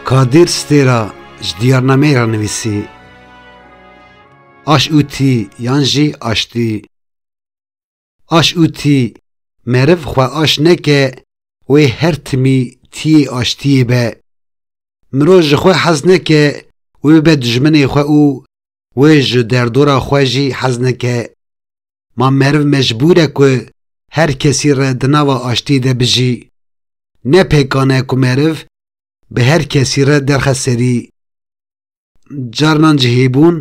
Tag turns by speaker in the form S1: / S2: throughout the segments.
S1: Kadir Stêra ji diyarnameyê re nivîsî, Aş û tî yan jî aştî. Aş û tî, meriv xwe aş neke wê her timî tîyê aştiyê be. Mirov ji xwe hez neke wê bibe dijminê xwe û Wê ji derdora xwe jî hez neke. Ma meriv mecbûr e ku her kesî re di nava aştiyê de bijî. Ne pêkan e ku meriv bi her kesî re derxe serî. Carinan cihêbûn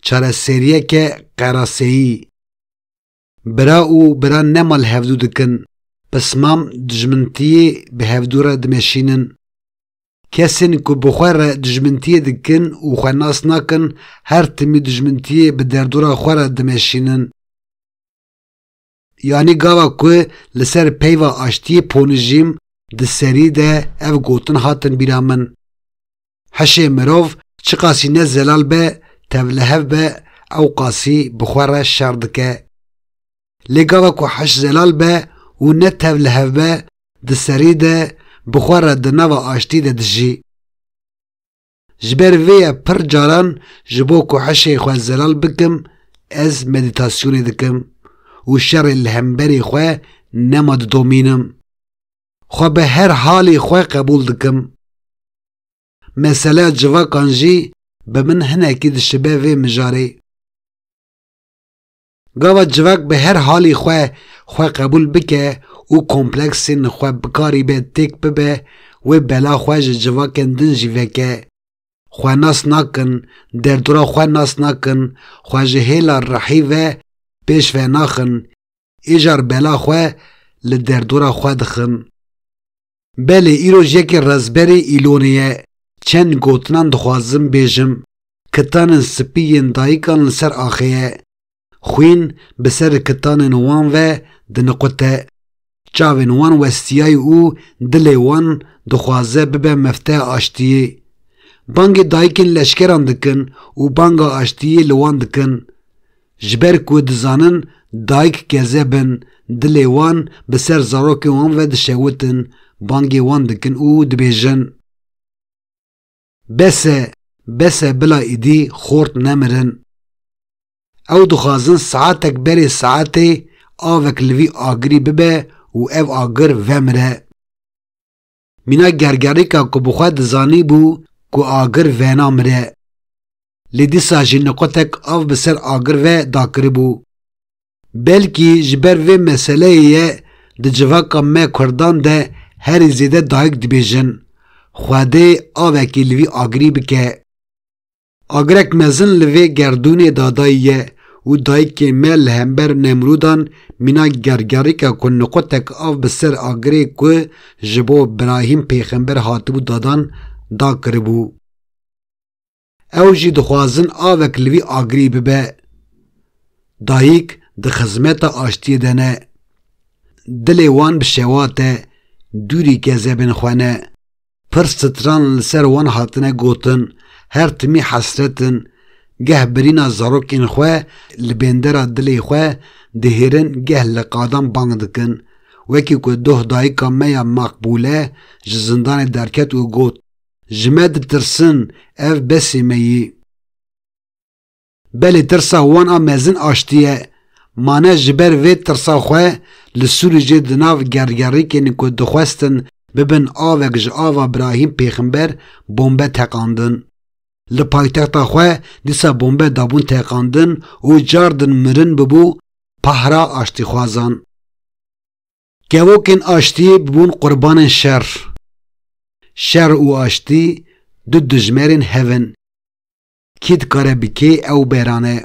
S1: çareseriyeke qeraseyî. Bira û bira ne mal hevdû dikin, pismam dijmintiyê bi hevdû re dimeşînin. Kesên ku bi xwe re dijmintiyê dikin û xwe nas nakin her timî dijmintiyê bi derdora xwe re dimeşînin. Yanî gava ku li ser peyva aştiyê ponijîm di serî de ev gotin hatin bîra min. Hişê mirov çiqasî ne zelal be, tevlihev be ew qasî bi xwe re şer dike. Lê gava ku hiş zelal be û ne tevlihev be, di serî de bi xwe re di nava aştî de dijî. Ji ber vê ye pir caran ji bo ku hişê xwe zelal bikim ez medîtasyonê dikim û şerê li hemberî xwe nema didomînim. Xwe bi her halî xwe qebûl dikim. Meseleya civakan jî bi min hinekî dişibe vê mijarê. Gava civak bi her halî xwe xwe qebûl bike û kompleksên xwe bikarî be têk bibe wê bela xwe ji civakên din jî veke. Xwe nas nakin, derdora xwe nas nakin, xwe ji hêla rihî ve pêş ve naxin, Êjar bela xwe li derdora xwe dixim. Belê îroj yekê rezberê Îlonê ye, çend gotinan dixwazim bêjim, kitanên spî yên dayikan li ser axê ye. Xwîn bi ser kitanên wan ve diniqute. Çavên wan westiyay û dilê wan dixwaze bibe mefteya aştiyê. Bangê dayikên leşkeran dikin û banga aştiyê li wan dikin. Ji ber ku dizanin dayik gezeb in, dilê wan bi ser zarokên wan ve dişewitin, bangê wan dikin û dibêjin, Bes e, bes e bila îdî xort nemirin. Ew dixwazin saetek berê saetê avek li vî agirî bibe û ev agir vemire. Mîna gergerîka ku bi xwe dizanîbû ku agir vena mire. Lê dîsa jî niqotek av bi ser agir ve dakiribû. Belkî ji ber vê meseleyê ye di civaka me kurdan de herî zêde dayik dibêjin, Xwedê avekî li vî agirî bike. Agirek mezin li vê gerdûnê de dayiye û dayikê me li hember Nemrûdan mîna gergerîka ku niqotek av bi ser agirê ku ji bo Birahîm pêxember hatibû dadan da kiribû. Ew jî dixwazin avek li vî agirî bibe. Dayik di xizmeta aştiyê de ne. Dilê wan bi şewat e, dûrî ke zebên xwe ne. Pir stran li ser wan hatine gotin, her timî hesret in, geh birîna zarokên xwe li bêndera dilê xwe dihêrin geh li qadan bang dikin. Wekî ku doh dayika me ya Makbûle ji zindanê derket û got, Ji me ditirsin, ev besê me yî. Belê tirsa wan a mezin aştiye. Mane ji ber vê tirsa xwe li Sûrîcê di nav gergerîkên ku dixwestin bibin avek ji ava Birahîm Pêximber bombe teqandin. Li paytexta xwe dîsa bombe dabûn teqandin û car din mirin bibû pahra aştîxwazan. Kevokên aştiyê bibûn qurbanên şer. Şer û aştî du dijmerên hev in. Kî dikare bi kê ew berane?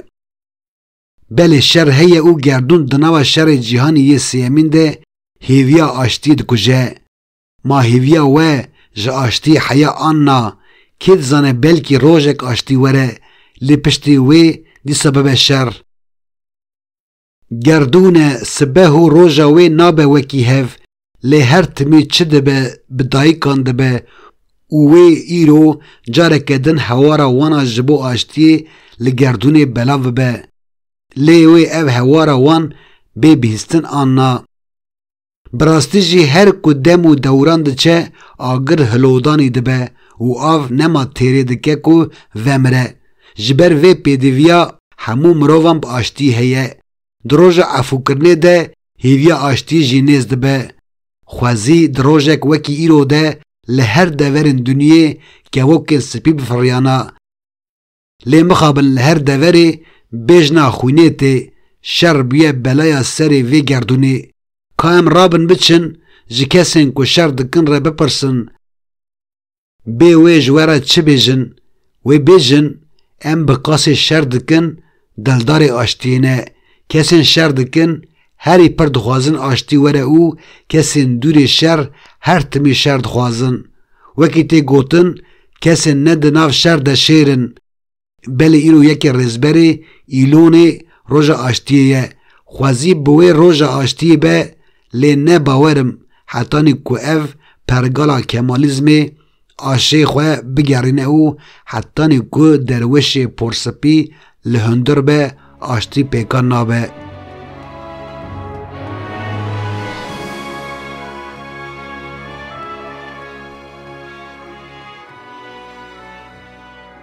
S1: Belê şer heye û gerdûn di nava şerê cîhanî yê sêyemîn de hêviya aştiyê dikuje. Ma hêviya we ji aştiyê heya an na, kê dizane belkî rojek aştî were lê piştî wê dîsa bibe şer. Gerdûn e, sibeh û roja wê nabe wekî hev, lê her timî çi dibe bi dayikan dibe û wê îro careke din hewara wan a ji bo aştiyê li gerdûnê belav bibe. Lê wê ev hewara wan bê bihîstin anna. Bi rastî jî her ku dem û dewran diçe agir hilodanî dibe û av nema têrê dike ku vemire. Ji ber vê pêdivîya hemû mirovan bi aştî heye. Di roja efûkirinê de hêvîya aştî jî nêz dibe. Xwezî di rojek wekî îro de li her deverên dunyê kevokên spî bifiriyana. Lê mixabin li her deverê bêjna xwînê tê, şer bûye belaya serê vê gerdûnê. Ka em rabin biçin ji kesên ku şer dikin re bipirsin bê wê ji we re çi bêjin, wê bêjin em bi qasê şer dikin dildarê aştiyê ne, kesên şer dikin Herî pir dixwazin aştî were û kesên dûrê şer her timî şer dixwazin. Wekî tê gotin, kesên ne di nav şer de şêr in. Belê îro yekê rêzberê Îlonê roja aştiyê ye. Xwezî bi wê roja aştiyê be lê ne bawer im hetanî ku ev pergala kemalîzmê Aşê xwe bigerîne û hetanî ku derwişê porspî li hundir be aştî pêkan nabe.